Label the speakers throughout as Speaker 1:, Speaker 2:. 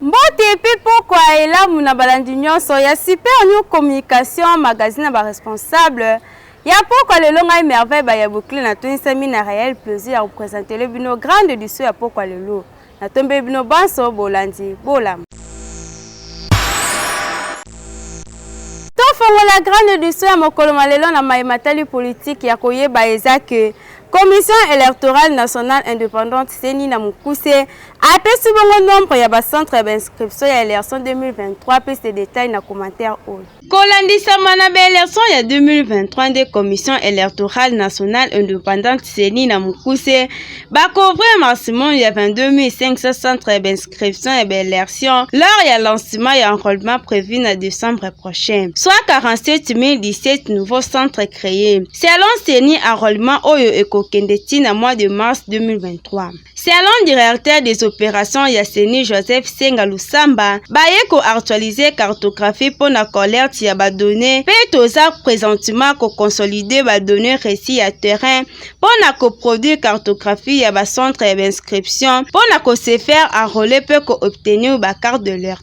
Speaker 1: mbote mpe pokwa elamu na balandi nyonso ya super new communication magazine ya baresponsable ya pokwa lelo ngai merveille bayabokile natonisami na réel plaisir ya kopresentele bino grande edition ya pokwa lelo Natombeli bino banso bolandi bolamu. Tofongola grande edition ya mokolo ma lelo na maye matali politiki ya koyeba eza ke Commission électorale nationale indépendante CENI na mokuse apesi bongo nombre ya ba centres ya ba inscriptions ya election 2023 mpe se detaille na commentaire oyo. kolandisama na baelection ya 2023 nde commission électorale nationale indépendante ceni na mokuse bacouvrir maximum ya 22 centres ya bainscription ya baelection lors ya lancement ya enrôlement prévu na décembre prochain soit 47 017 nouveaux centres créés selon ceni enrôlement oyo ekokende ntina mois de mars 2023 Selon directeur des opérations ya CENI Joseph Senga Lusamba, baye ko actualiser cartographie mpo na collecte ya ba données mpe toza présentement ko consolider ba données reçues ya terrain mpo na ko produire cartographie ya ba centres ya ba inscription mpo na ko se faire enrôler mpe ko obtenir ba cartes de leur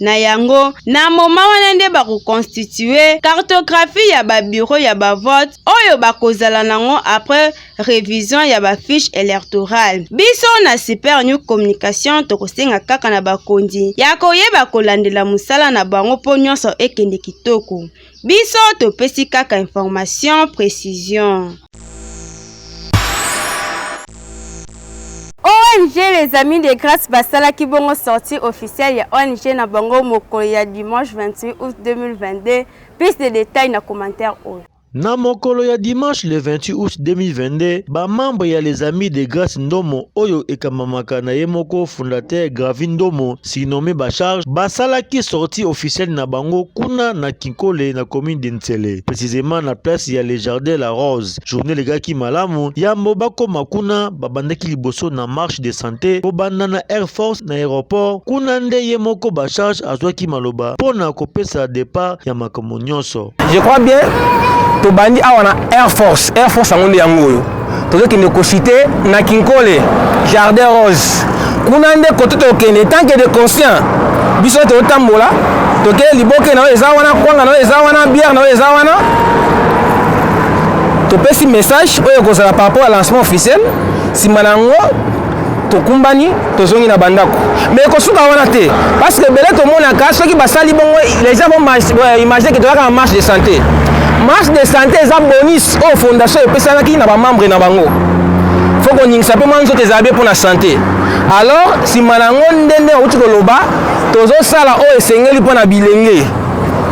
Speaker 1: Na yango, na moma wana nde bakoconstitue cartographie ya ba bureau ya ba vote oyo bakozala nango après revision ya ba fiche electorale. Biso na Super New Communication tokosenga kaka na bakonzi ya koyeba kolandela mosala na bango mpo nyonso ekende kitoko. Biso topesi kaka information precision. ONG Les Amis de Grace basalaki bongo sortie officielle ya ONG na bango mokolo ya dimanche 28 août 2022. Plus de détails na commentaire oyo. Na mokolo ya
Speaker 2: dimanche le 28 août 2022, ba membres ya Les Amis de Grace Ndomo oyo ekambamaka na ye moko fondateur Gravi Ndomo Sinome Bacharge basalaki sortie officielle na bango kuna na Kinkole na commune de Nsele, precisement na place ya Le Jardin La Rose. Journée legaki malamu, yambo bakoma kuna babandaki liboso na marche de santé kobanda na Air Force na aéroport. Kuna nde ye moko Bacharge azwaki maloba mpo na kopesa départ ya makambo nyonso. Je crois bien
Speaker 3: tobandi awa na Air Force. Air Force yango nde yango oyo tozokende kosite na Kinkole Jardin Rose kuna nde kote tokende tanke de conscient biso totambola tokei liboke na oyo eza wana kwanga na oyo eza wana biere na oyo eza wana topesi message oyo ekozala par rapport ya lancement officiel nsima na yango tokumbani tozongi na bandako mais ekosuka wana te parce que ebele tomonaka soki basali bongo les gens vont euh, imaginer que tozalaka na marche de santé marche de santé eza bonus oyo fondation epesanaki na bamembre na bango fo koningisa mpe mwa nzoto ezala bie mpo na sante alors nsima na yango nde nde auti koloba tozosala oyo esengeli mpo na bilenge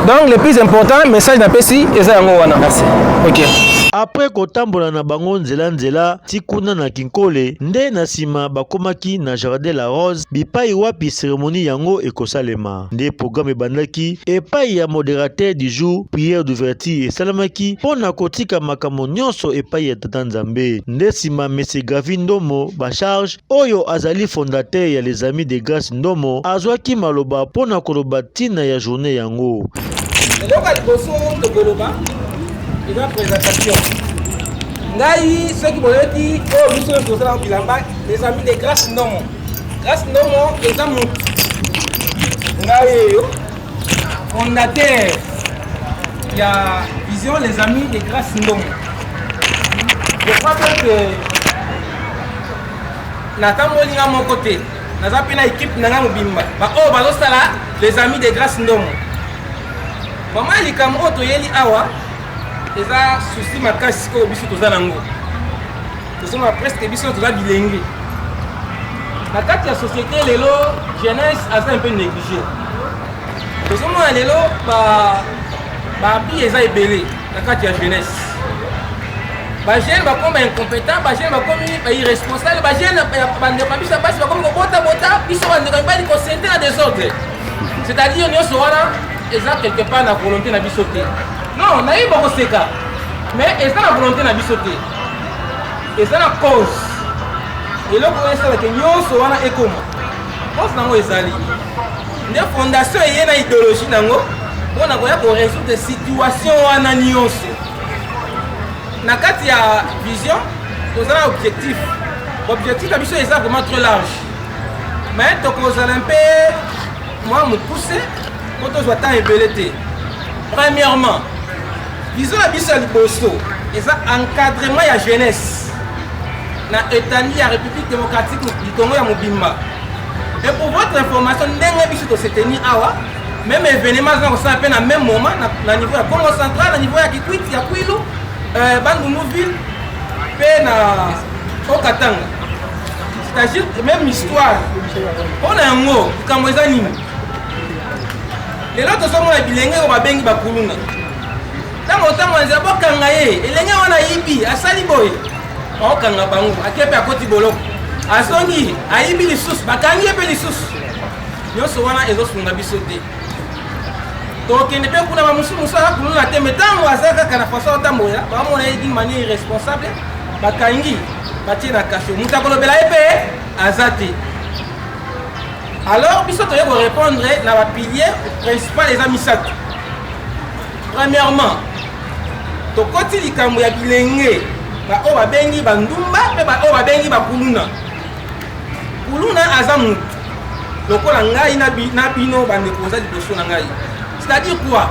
Speaker 3: donc le plus important message napesi eza yango wana okay. apres
Speaker 2: kotambola na bango nzela nzela ti kuna na Kinkole nde na nsima bakomaki na Jardin la Rose bipai wapi seremoni yango ekosalema. Nde programme ebandaki epai ya moderateur du jour, prière d'ouverture esalamaki mpo na kotika makambo nyonso epai ya Tata Nzambe. Nde nsima Monsieur Gavi Ndomo Bacharge oyo azali fondateur ya Les Amis de Grace Ndomo azwaki maloba mpo na koloba ntina ya journée yango. eloko ya
Speaker 3: liboso tokoloba eza présentation ngai soki boyoki oyo oh, biso nyonso tozala bilamba ezambi de grace ndomo grace ndomo eza motu ngai eyo fondateur ya vision les amis de grace ndomo je crois bien que natamboli nga moko te naza mpe na ekipe na nga mobimba baoyo oh, bazosala les amis de grace ndomo bamai likambo oyo toyeli awa eza souci makasi oyo biso toza nango tozomona presque biso toza bilenge na kati ya société lelo jeunesse aza un peu négligé tozomona lelo baabli eza ebele na kati ya jeunesse bajeune bakomi baincompétent bajeune bakomi bairresponsable bajeune bandeko ya biso ya basi bakomi kobotabota biso bandeko mibali kosente na desordre c'est-à-dire nyonso wana eza quelque part na volonté na biso te Non, nayebi bakoseka mais eza na volonté na biso te eza na cause eloko oyo esalaka nyonso wana ekoma cause nango ezali nde fondation eye na idéologie nango mpo na koya koresoudre situation wana nyonso na kati ya vision toza na objectif objectif na biso eza vraiment très large mais tokozala mpe mwa mokuse mpo tozwa temps ebele te premièrement vision na biso ya liboso eza encadrement ya jeunesse na etandi ya république démocratique du congo ya mobimba et pour votre information ndenge biso toseteni awa même événement azana kosala mpe na même moment na, na niveau ya congo central na niveau ya kikwiti ya kwilu euh, bandundu ville mpe na okatanga c'est-à-dire même histoire mpo na yango likambo eza nini lelo tozomona bilenge oyo babengi bakuluna ntango ntango ya nzela bokanga ye elenge wana ayibi asali boye baokanga bango ake mpe akoti boloko azongi ayibi lisusu bakangi ye mpe lisusu nyonso wana ezosunga biso te tokende mpe kuna bamosusu mosusu aza kuluna te me ntango aza kaka na faso atambola bamona ye d'une manière irresponsable bakangi batie na kasho moto akolobela ye mpe aza te Alors biso toye ko répondre na ba piliers principal eza misato. Premièrement, tokoti likambo ya bilenge baoyo babengi bandumba mpe baoyo babengi bakuluna. Kuluna aza motu lokola ngai na bino bandeko boza liboso na ngai. C'est-à-dire quoi?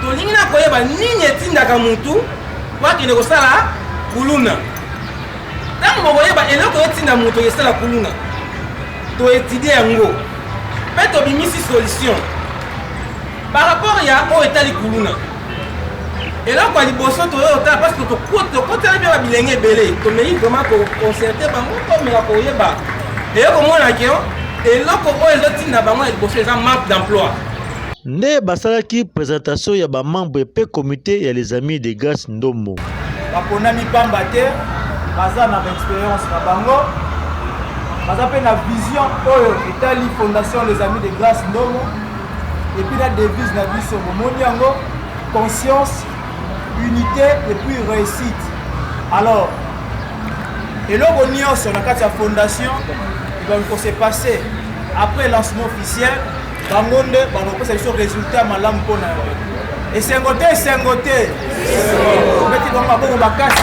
Speaker 3: Tolingi na koyeba nini etindaka motu po akende kosala kuluna. Ntango bokoyeba eloko etinda moto esala kuluna To étudier yango pe to bimisi solution par rapport ya oyo etali kuluna. Eloko ya liboso toyo otala parce que tokotela bien ba bilenge ebele. Tomeki vraiment ko concerter bango to meka koyeba. Eye komona ke eloko oyo ezotinda bango ya liboso eza manque d'emploi. Nde
Speaker 2: basalaki presentation ya ba membres pe comite ya les amis de Grace Ndombo. Baponami
Speaker 4: pamba te baza na baexperience na bango, baza mpe na vision oyo etali Fondation les Amis de Grace Ndombo epuis na devise na biso bomoni yango conscience unité et puis réussite alors eloko nyonso na kati ya fondation ekoki kose passe après lancement officiel bango nde bakopesa biso resultat ya malamu mpo na yango esengo te esengo te obeti bango maboko makasi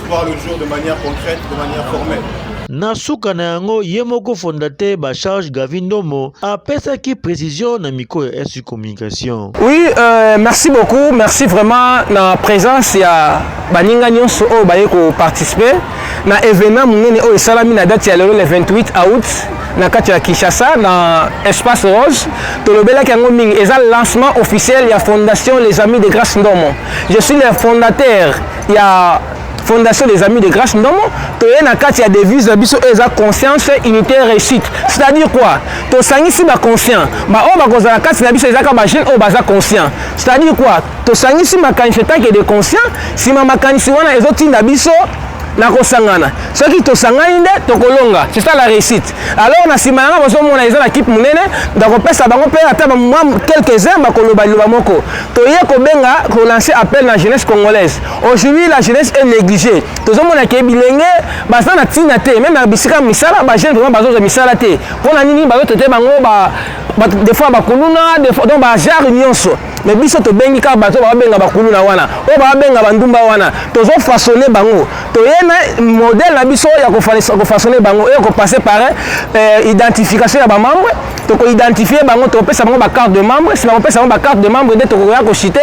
Speaker 5: voir le jour de manière concrète, de manière formelle. Na suka na
Speaker 2: yango ye moko fondateur ba charge Gavi Ndomo apesaki précision na micro ya SU Communication. Oui, euh,
Speaker 3: merci beaucoup. Merci vraiment na présence ya baninga nyonso oyo baye ko participer na événement munene oyo esalami na date ya lelo le 28 août na kati ya Kinshasa na espace rose tolobelaki yango mingi eza lancement officiel ya fondation les amis de grâce ndomo je suis le fondateur ya fondation des amis de grâce ndomo toye na kati ya devise na biso oyo eza conscience unité réussite c'est à dire quoi tosangisi baconscient baoyo bakozala na kati na biso ezaka bajeune oyo baza conscient c'est à dire quoi tosangisi makanisi etake de conscient nsima makanisi wana ezotinda biso na kosangana soki tosangani nde tokolonga c'est ça la réussite alors na nsima yanga bozomona eza na kipe monene ndakopesa bango mpe ata mwa quelques heures bakoloba liloba moko toye kobenga kolancer appel na jeunesse congolaise aujourd'hui la jeunesse est négligée tozomona ke bilenge baza na ntina te meme na bisika misala bajeune vraiment bazozwa misala te mpo na nini bazotote bango des fois bakuluna donc bagenre nyonso mais biso tobengi kaka bato babenga bakuluna wana oyo babenga bandumba wana tozofaçonne bango toye na modèle na biso ya kofaçonne bango oyo kopase par euh, identification ya bamambre toko identifier bango tokopesa bango bacarte de membre nsima kopesa bango bacarte de membre nde tokoya koshite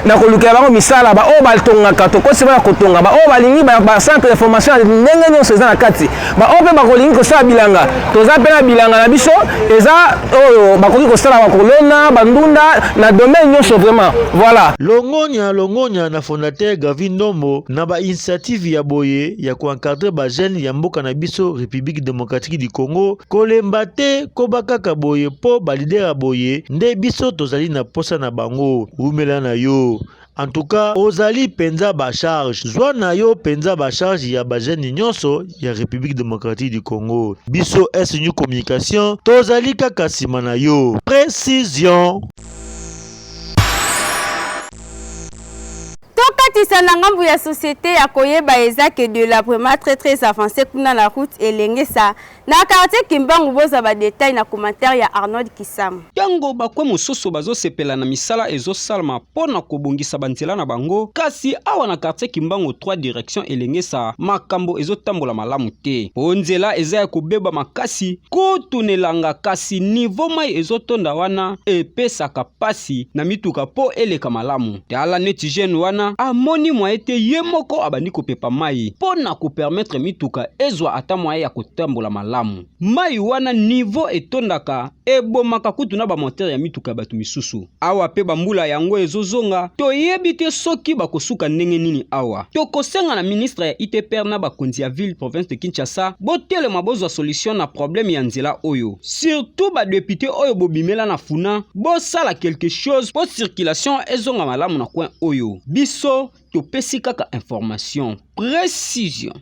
Speaker 3: na kolukela bango misala baoyo batongaka tokosi bana kotonga baoyo balingi bacentre de formation ya ndenge nyonso eza na kati baoyo mpe bakolingi kosala bilanga toza mpe na bilanga na biso eza oyo bakoki kosala bakolona bandunda na domaine nyonso vraiment voilà longonya longonya
Speaker 2: na fondateur gavi ndombo na bainitiative ya boye ya koencadre bajeune ya mboka na biso république démocratique du congo Kolemba te, koba kaka boye po ba leader ya boye nde biso tozali na posa na bango. Wumela na yo. En tout cas, ozali penza ba charge. Zwa na yo penza ba charge ya ba jeunes nyonso ya République démocratique du Congo. Biso S New Communication tozali kaka sima na yo. Précision.
Speaker 1: tokatisa na ngambo ya société ya koyeba eza que de la vraiment très très avancé kuna na route elengesa Na quartier Kimbangu bozwa ba details na commentaire ya Arnold Kisamu. Tango ba coins
Speaker 6: mosusu bazo sepela na misala ezo salma po na ko bongisa ba nzela na bango, kasi awa na quartier Kimbangu trois directions Elengesa makambo ezo tambola malamu te po nzela eza ya ko beba makasi kutu n'elanga kasi niveau mayi ezo tonda wana epesaka pasi na mituka po eleka malamu. tala neti jeune wana amoni mwaye te ye moko abandi kopepa mai mpo na kopermetre mituka ezwa ata mwaye ya kotambola malamu mai wana nivo etondaka ebomaka kutu na bamotere ya mituka ya bato misusu awa mpe bambula yango ezozonga toyebi te soki bakosuka ndenge nini awa tokosenga na ministre ya itpr na bakonzi ya ville province de kinshasa botelema bozwa solution na probleme ya nzela oyo Surtout ba depute oyo bobimela na funa bosala quelque chose po circulation ezonga malamu na coin oyo biso topesi kaka information precision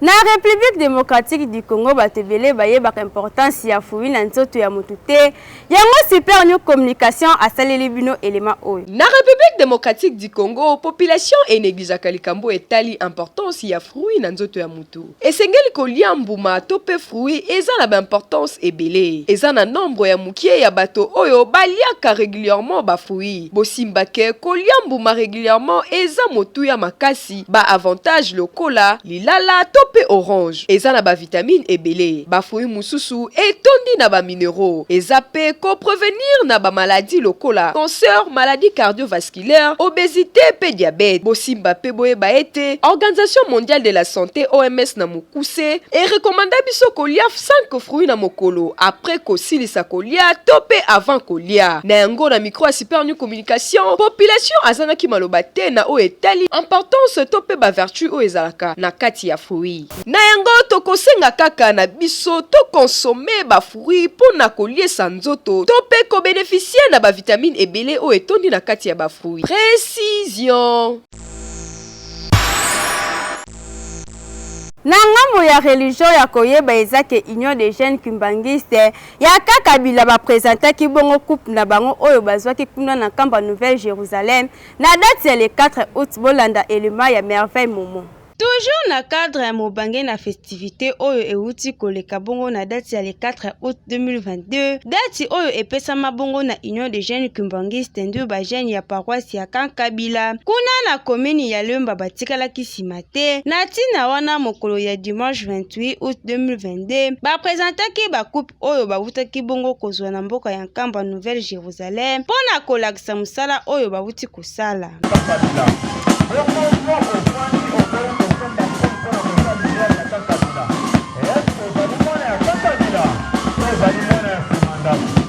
Speaker 1: Na Republique democratique du Congo bato ebele bayebaka importance ya fumi na nzoto ya moto te Yango super new communication asaleli bino element oyo. Na Republique
Speaker 7: democratique du Congo, population e negligeaka likambo oyo etali importance ya fruits na nzoto ya mutu. Esengeli kolia mbuma to mpe fruits eza na ba importance ebele. Eza na nombre ya mukie ya bato oyo baliaka regulièrement ba fruits. Bosimba que kolia mbuma regulièrement eza motuya makasi. makasi. Ba avantages lokola lilala to pe orange eza na ba vitamines ebele. Ba fruits mosusu etondi na ba mineraux eza pe ko prevenir na ba maladies lokola cancer, maladies cardiovasculaires, obesite pe diabète. Bosimba pe boyeba ete Organisation mondiale de la sante, OMS, na mokuse e recommanda biso kolia cinq fruits na mokolo apres kosilisa kolia to pe avant kolia. Na yango na micro ya Super Nuit Communication, communication, population azangaki maloba te na oyo etali importance to mpe ba vertus oyo ezalaka na kati ya fruits. Na yango, tokosenga kaka na biso to consommer ba fruits mpo na koliesa nzoto to mpe ko beneficier na ba vitamines ebele oyo etondi na kati ya ba fruits. Precision.
Speaker 1: Na ngambo ya religion ya koyeba eza ke Union des jeunes kimbanguistes Yaka Kabila ba presentaki bongo couple na bango oyo bazwaki kuna na Nkamba Nouvelle Jerusalem na date ya le 4 aout, bolanda element ya Merveille Momo. Toujours na cadre ya mobange na festivite oyo ewuti koleka bongo na date ya le 4 aout 2022, date oyo epesama bongo na Union des jeunes kimbanguistes ndu ba jeunes ya paroisse ya Camp Kabila kuna na commune ya Lemba batikalaki sima te. te. Na ntina wana, mokolo ya dimanche 28 août 2022, bapresentaki bakupe oyo bawutaki bongo kozwa na mboka ya Nkamba Nouvelle Jerusalem mpo na kolakisa mosala oyo bawuti kosala.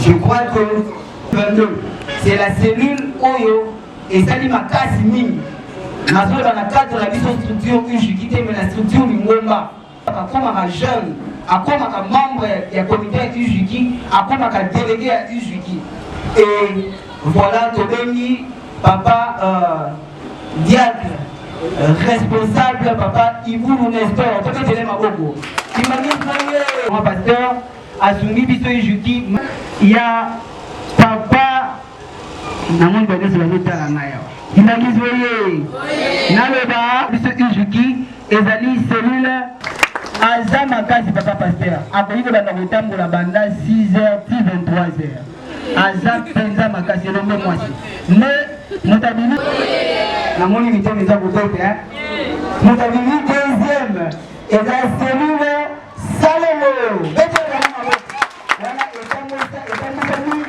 Speaker 8: Je crois que 22 c'est la cellule oyo ezali makasi mingi nazoloba na cadre na biso structure ujiki te mais na structure lingomba akomaka jeune akomaka membre ya comité ya ujiki akomaka délégué ya ujiki et voilà tobengi papa euh, diacre responsable papa ibulu nestor toketele maboko imangi pasteur Asungi biso ejuki ya papa na moni banyoso bazotala ngai awa ndakisi oye naloba biso ejuki ezali cellule aza makasi papa paster akoki kobanda kotambola banda 6 heures ti 23 heures aza mpenza makasi elombe mwasi nde moto abimi namoni mitema eza kobeta moto abimi deuxième Eza selile salelo. Bete na maboko. Wana etambusa etambusami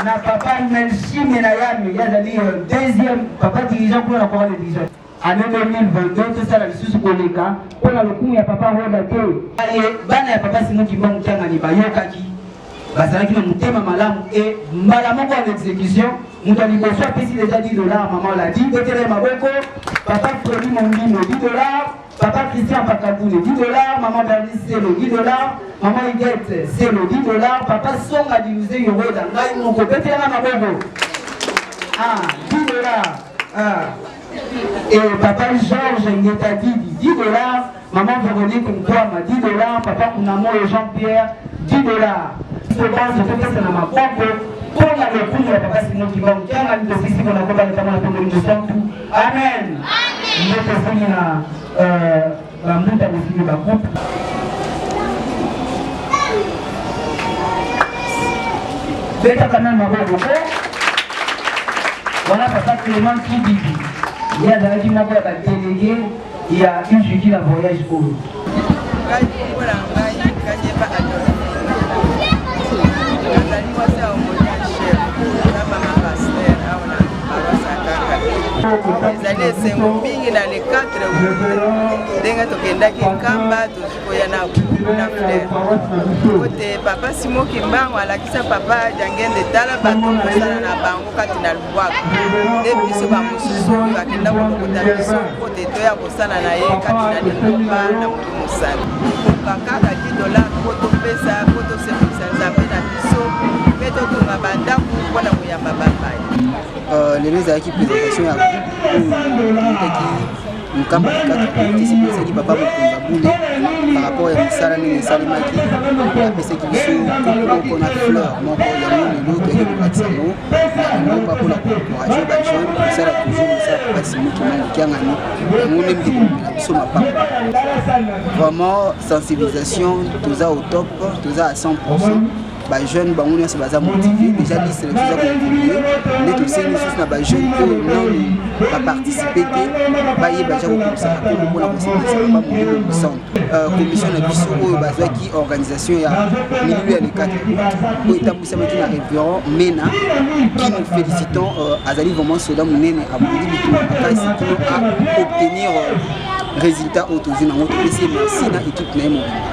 Speaker 8: na papa Melchime na yami yazali euh, deuxième papa dirigeant kuna na Corale Vision. Année 2022 tosala lisusu koleka mpo na lokumu ya papa Roda te. Aye bana ya papa Simon Kimba Mutangani bayokaki bazalaki na motema malamu e mbala moko en exécution moto ya liboso apesi deja 10 dollar mama oladi botela ye maboko papa fredi mombino 10 dollar Papa Christian Pakabule, 10 dollars, maman Bernice Selo, 10 dollars, maman Huguette Selo, 10 dollars, papa Songa Diluze Yoroda, ngai moko, bete yana mabobo. Ah, 10 dollars. Ah. Et papa Georges Ngeta Didi, 10 dollars, maman Véronique Nkwama, 10 dollars, papa Kunamoyo Jean-Pierre, 10 dollars. Tobanzo topesa na maboko mpo na lokumu ya papa Simon Kimbangu, kianga mitofisi mpo na kobala ntango na pembe mosantu Amen. Nde tokomi na euh, bambuta bosimi bakupe betaka nani maboko po wana papa clement kibibi ye azalaki moko ya batelege ya usuki na voyage oyo ngai kombo na ngai kanyeba adolfine nazali mwasi ya omonian
Speaker 9: chef na mama paster awa na paroise ya kaka ezali esengo mingi na le 4 ndenge tokendaki nkamba tozwi koya na na fleur kote papa simo kimbango alakisa papa jangende tala bato kosala na bango kati na pouvoir nde biso bamosusu bakenda kolokota biso mpo te toya kosala na ye kati na lingomba na moto mosala kokoka kaka 10 dolar mpo topesa mpo tosepelisa nzambe na biso mpe totonga bandako mpo na koyamba bapai euh, lelo
Speaker 10: ezalaki présentation ya groupe oyo mokambo ya kati politisi mpe ezali papa mokonza bule par rapport ya misala ndenge esalemaki apesaki biso moko na fleur moko ya molelo toyaki kolakisa yango nakomoka mpona koencourage bajeune kosala toujours mosala mpasi moki mamokiangani yango nde mpe komela biso mapapa vraiment sensibilisation toza au top toza à 100 bajeune bango nyonso baza motive déjà liste na biso eza kokontinue nde tosengi lisusu na bajeune oyo nani baparticipe te bayeba ja kokokisa bakolo mpona kosepelisa baba molimo mosantu euh, commission na biso oyo bazwaki organisation ya milieu ya le 4 oyo etambwisamaki na révérend mena qui nous félicitant euh, azali vraiment soda monene abondi bitu makasi kino a obtenir euh, résultat oyo tozwi nango topesi ye merci na équipe na ye mobimba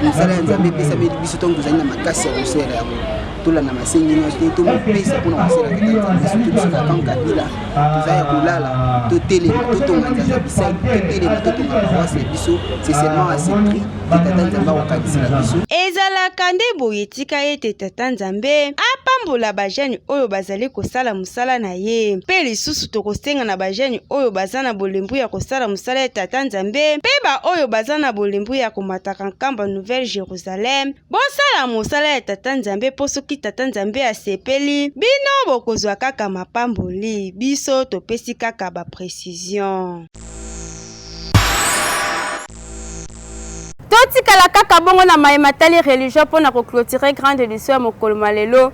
Speaker 10: misala ya nzambe epesameli biso ntango tozali na makasi ya kosela yango tolanda masengi nyonso te tomipesa mpona kosala tata nzambe soki biso na kan kabila toza ya kolala totelema totonga nzanza bisai totelema totonga paroise na biso c'est seulement à ce prix te tata nzambe akokanisela biso ezalaka nde
Speaker 1: boye tika ete tata nzambe apambola bajane oyo bazali kosala mosala na ye mpe lisusu tokosenga na bajeni oyo baza na bolembu ya kosala mosala ya tata nzambe mpe baoyo baza na bolembu ya komataka nkamba nouvelle jerusalem bosala mosala ya tata nzambe mpo soki tata nzambe asepeli bino bokozwa kaka mapamboli biso topesi kaka baprecision totikala kaka bongo na maye matali religion mpo na koclotire grande edition ya mokolo ma lelo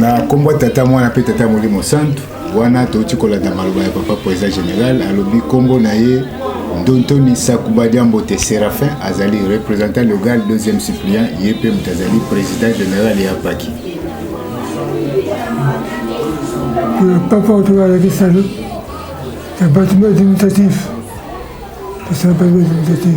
Speaker 11: na nkombo ya tata mwana mpe tata molimo santu wana touti kolanda maloba ya papa président général alobi nkombo na ye ndontoni sakuba diambote séraphin azali représentant logal deuxième suppliant ye mpe moto azali président général ya paki
Speaker 12: papa oto alakisano ya bâtiment administratif tosala bâtiment administratif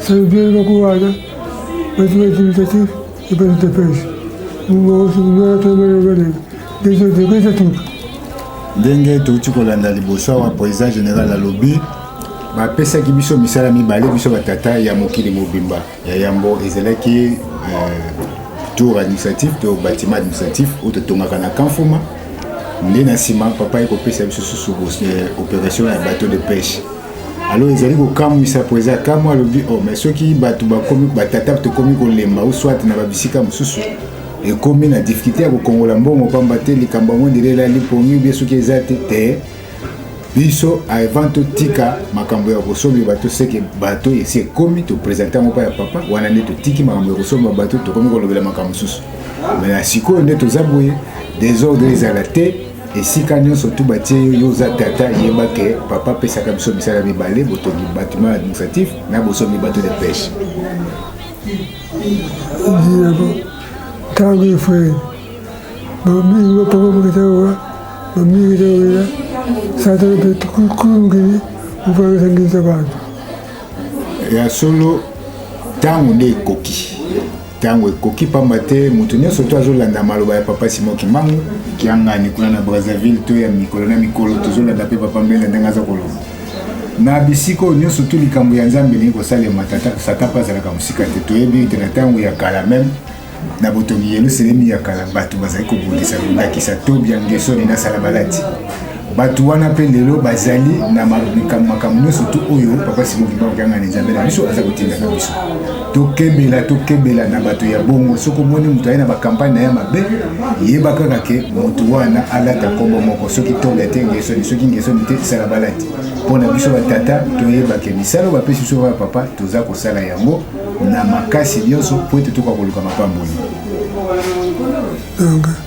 Speaker 12: Sergei Makuwada, Mathieu Timitatif, et Pedro Tepes. ndenge
Speaker 11: touti kolanda liboso awa président général alobi bapesaki biso misala mibale biso batata ya mokili mobimba ya yambo ezalaki euh, tour administratif to bâtiment administratif oyo totongaka na kanfuma nde na nsima papa ye kopesa biso susu euh, opération ya bateau de pêche alors ezali kokamwisa mpo eza kamwa alobi o oh, mai soki bato bakomi batata tokomi kolemba ou soit na babisika mosusu ekomi na difficulté ya kokongola mbongo mpamba te likambo yango ndele elali pongi ubie soki eza te te biso avant totika makambo ya kosomba bato seke bato esi ekomi topresente yango mpa ya papa wana nde totiki makambo ya kosomba bato tokomi kolobela makambo mosusu me na sikoyo nde toza boye desordre ezala te esika nyonso tu batie yo yo oza tata yeba ke papa apesaka biso misala mibale botongi batiment administratif na bosombi bato de pêche
Speaker 12: ntango efrere bamingi bapapa mokita owa bamingi kita oya satana mpe kulungili mopakisangisa bantu
Speaker 11: ya solo ntango nde ekoki ntango ekoki mpamba te moto nyonso to azolanda maloba ya papa simon kimbangu kiangani kuna na brazzaville to ya mikolo na mikolo tozolanda mpe papa mbele ndenge aza koloba na bisika oyo nyonso to likambo ya nzambe elingi kosalema tata satan mpe azalaka mosika te toyebi ete na ntango ya kala meme na botongi yelusalemi ya kala bato bazali kobundisa ndakisa tobia ngesoni na salabalati bato wana mpe lelo bazali na makambo nyonso tu oyo papa sikokimba kokangana nzambe na biso aza kotindaka biso tokebela tokebela na bato ya bongo soki omoni moto aye na bakampagne na ye mabe yeba kaka ke moto wana alata nkombo moko soki tobe te ngesoni soki ngesoni te sala balati mpo na biso batata toyebake misala oyo bapesi biso ya papa toza kosala yango na makasi nyonso mpo ete tokoka koluka mapamboli okay.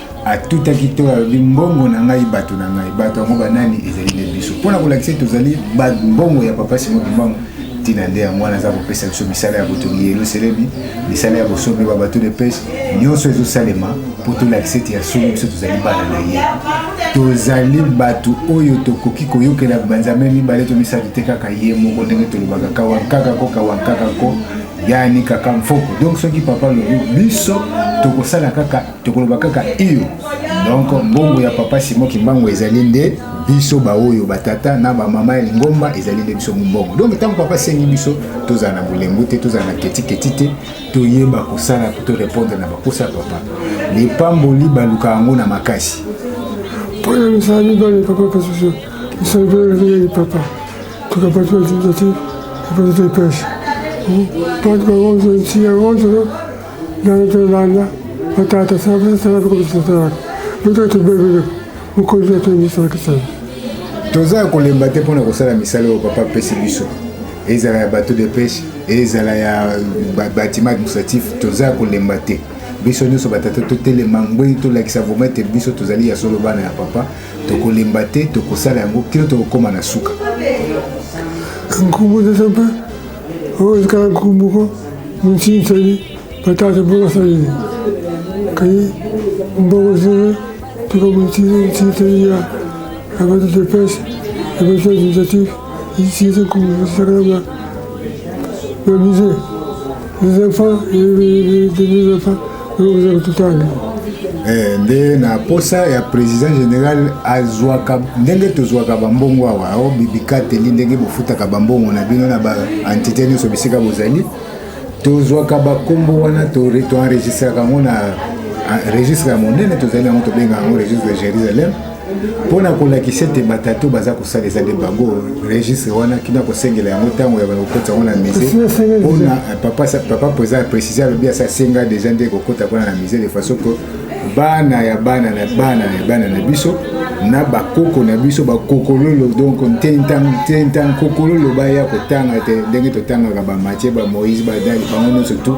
Speaker 11: atutaki to alobi mbongo na ngai bato na ngai bato yango banani ezali nde biso mpo na kolakisa ete tozali mbongo ya papa simo kimbangu ntina nde yango wana aza kopesa biso misala ya botongi yelusalemi misala ya bosombe ba bato de pese nyonso ezosalema mpo tolakisa ete ya solo biso tozali bana na ye tozali bato oyo tokoki koyokela banzambe mibale to misato te kaka ye moko ndenge tolobaka kawankaka ko kawankaka ko yani kaka mfoko donc soki papa lobi biso tokosala kaka tokoloba kaka iyo donc mbongo ya papa simo kimbangu ezali nde biso baoyo batata na bamama ya lingomba ezali nde biso mombongo donc ntango papa asengi biso tozala na bolembu te tozala na ketiketi te toyeba kosala to repondre na bakosa ya papa lipamboli baluka yango na makasi mpo na
Speaker 12: misala mibale papa pasusu misala mibale mibale papa tukapatuatimzati epatata ipesha mpo tukakonzo nsiya konzo Nalobelanga na tata sala sala ko bisala. Ndio tubebe ukonzi ya tumbisa kisala. Toza ya
Speaker 11: kolemba te mpona kosala misala oyo papa apesi biso ezala ya bateau de pêche ezala ya bâtiment administratif toza ya kolemba te biso nyonso batata totelema ngwei tolakisa vraimen ete biso tozali ya solo bana ya papa tokolemba te tokosala yango kino tokokóma na suka nkombo
Speaker 12: na nzambe oyo ezikala nkoko moko montini sali batata mpo basali kaye mboko zele tuka montini montini sali ya abati de pese abati administratif isinze sakala ba ba musée les enfants et les enfants Eh,
Speaker 11: nde na posa ya président général azwaka ndenge tozwaka bambongo awa o bibikateli ndenge bofutaka bambongo na bino na baentité nyonso bisika bozali tozwaka bakombo wana toenregistraka yango na registre ya monene tozali yango tobenga yango registre de jérusalem mpo na kolakisa ete batatu baza kosala eza nde bango registre wana kina kosengela yango ntango ya kokota yango na musée mpona eh, papa président précise alobi asa asenga déjà nde kokota kuna na musée de façon que bana ya bana na bana ya bana na biso na bakoko na biso bakokololo donc ntentankokololo baya kotanga te ndenge totangaka bamatie bamoïse badali bango nyonso tout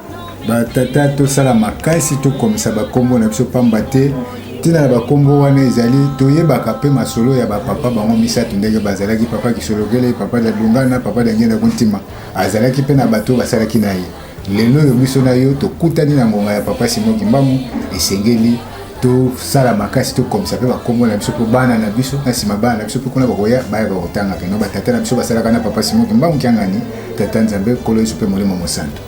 Speaker 11: batata tosala makasi tokomisa bakombo na biso pamba te ntina na bakombo wana ezali toyebaka mpe masolo ya bapapa bango misato ndenge bazalaki papa kisolokele papa da lungana papa da ngenda kontima azalaki mpe na bato basalaki na ye lelo oyo biso na yo tokutani na ngonga ya papa simo kimbangu esengeli tosala makasi tokomisa mpe bakombo na biso mpo bana na biso na nsima bana na biso mpe kuna bakoya bayaka kotanga keno batata na biso basalaka na papa simo kimbangu kiangani tata nzambe nkolo yesu mpe molimo mosanto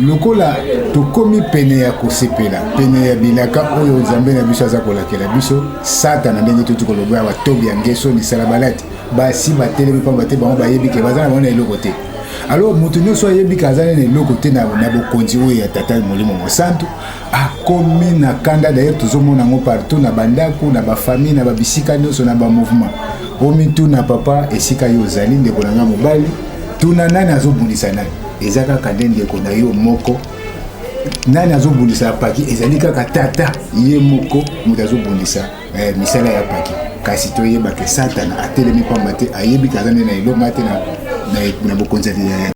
Speaker 11: Lokola tokomi pene ya kosepela, pene ya bilaka oyo Nzambe na biso aza kolakela biso, Satana ndenge tuti koloba awa, Tobia, Ngesoni, Salabalati, basi batelemi mpamba te bango bayebi ke baza na bango na eloko te. Alo moto nyonso ayebi ke aza na eloko te na bokonzi oyo ya Tata Molimo Mosantu, akomi na kanda. Dayere tozomona yango partout, na bandako, na bafamille, na babisika nyonso, na bamouvement. Omituna papa, esika yo ozali, ndeko na ngai mobali, tuna nani azobundisa nani. eza kaka nde ndeko na yo moko nani azobundisa ya paki ezali kaka tata ye moko moto azobundisa eh, misala ya paki kasi toyeba ke satana atelemi pamba te ayebi kaza nde na elonga te na, na, na bokonzi ya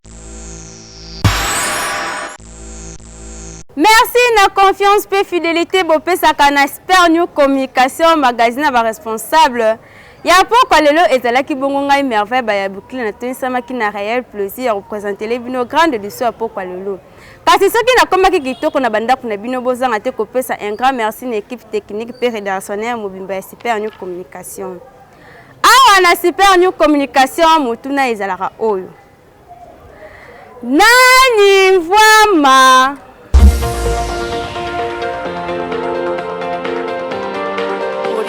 Speaker 1: merci na confiance mpe fidélité bopesaka na sper new communication magazine ya baresponsable Ya pokwa lelo ezalaki bongo ngai Merveille Bayabukile natonisamaki na reel plaisir ya kopresentele bino grande liso ya pokwa lelo. Kasi soki nakomaki kitoko na bandako na bino bozanga te kopesa un grand merci na equipe technique mpe redationnaire mobimba ya Super New Communication. Awa na Super New Communication motuna ezalaka oyo. Nani mvwama?